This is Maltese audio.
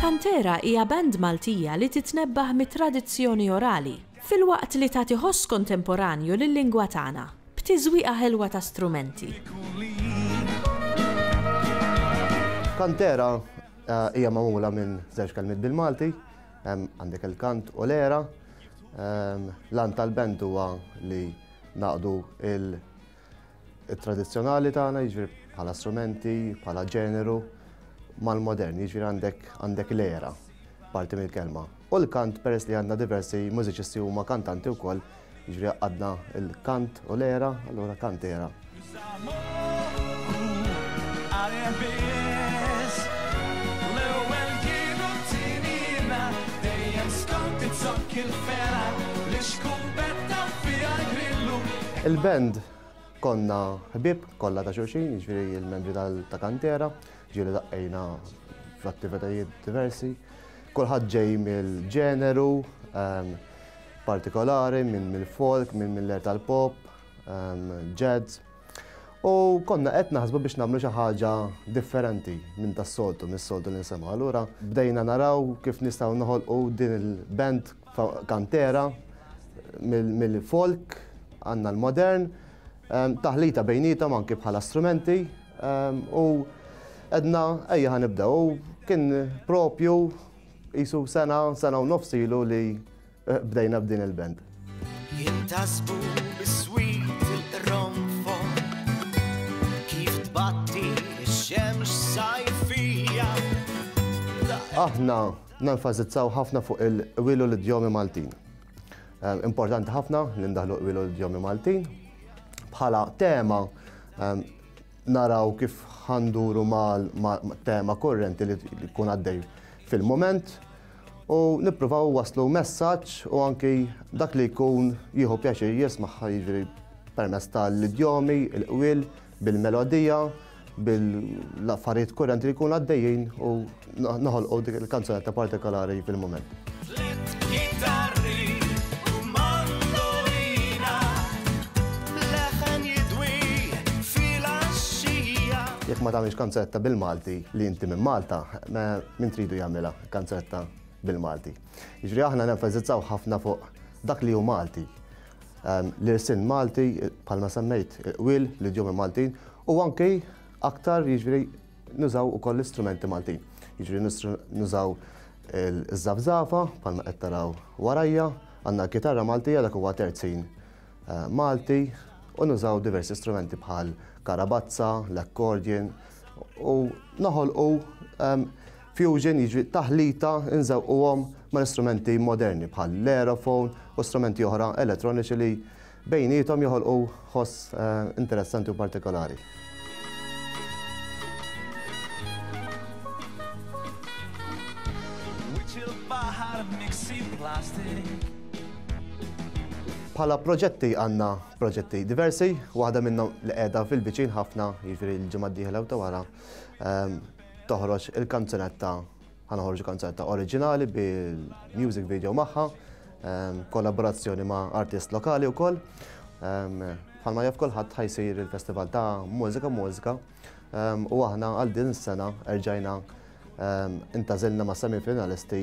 Kantera hija band Maltija li titnebbaħ mit-tradizzjoni orali, filwaqt li tagħti ħoss kontemporanju lil-lingwa tagħna, b'tiżwieqa ħelwa ta' strumenti. Kantera hija magħmula minn żewġ kelmiet bil-Malti, għandek il-kant u l-għera. L-għan tal-band huwa li ngħaqqdu l-, it-tradizzjonali tagħna, jiġifieri bħala strumenti, bħala ġeneru, mal-modern, jiġifieri għandek għandek l-era, parti mill-kelma. U l-kant peress li għandna diversi mużiċisti huma kantanti wkoll, jiġifieri għadna l-kant u l-era, allura kant era. Il-band konna ħbieb kollha ta' xulxin, jiġifieri il-membri ta' kantera, ġieli daqqejna f'attivitajiet diversi. Kulħadd ġej mill-ġeneru ehm, partikolari, minn mill-folk, minn mill-er tal-pop, ehm, jazz. U konna qed naħsbu biex nagħmlu xi ħaġa differenti minn tas-soltu, mis-soltu li nsemgħu. Allura bdejna naraw kif nistgħu noħolqu din il-band kantera mill-folk għandna l-modern, ehm, taħlita bejnietom anki bħala strumenti ehm, u edna ejja ħanibdew. Kien propju jisu sena, sena u nofsilu li Bdejna b'din il-band. Jintasbu biswit il-qronfon Kif tbatti x-xemx sajfija Aħna nenfasizzaw ħafna fuq il-wilu l-idjomi Maltin. Ehm, importanti ħafna li ndaħlu wilu l-idjomi Maltin. Bħala tema ehm, naraw kif ħanduru mal tema korrenti li kun għaddej fil-moment u nippruvaw waslu messaġġ u anki dak li jkun jieħu pjaċir jismaħħa jiġri permezz tal-idjomi, il-qwil, bil-melodija, bil-affarijiet kurrenti li jkun għaddejjin u noħolqu dik il-kanzunetta partikolari fil-mument. Jekk ma tagħmilx kanzunetta bil-Malti li inti minn Malta, min tridu jagħmilha? kanzetta bil-Malti. Jiġri aħna nenfasizzaw ħafna fuq dak li hu Malti. Ehm, L-irsin Malti, palma semmejt, il-qwil, l-idjomi Maltin, u anke aktar jiġri nużaw u koll istrumenti Maltin. Jiġri nużaw il-żafzafa, palma qed taraw warajja, għandna kitarra Maltija dak huwa terzin eh, Malti, u nużaw diversi strumenti bħal karabazza, l-akkordjen, u noħolqu ehm, Fusion jiġri taħlita nżewquhom mal-istrumenti moderni bħal l-aerophone u strumenti oħra elettroniċi li bejniethom joħolqu ħoss interessanti u partikolari. Bħala proġetti għandna proġetti diversi, waħda minnhom li qiegħda fil-viċin ħafna jiġri l-ġimgħa d-dieħla u ta' wara, toħroġ il-kanzunetta ħa noħorġu kanzunetta oriġinali bil-music video magħha, ehm, kollaborazzjoni ma' artist lokali wkoll. Ehm, bħalma jaf kulħadd ħajsir il-festival ta' mużika mużika ehm, u aħna għal din is-sena erġajna intażilna ma' semifinalisti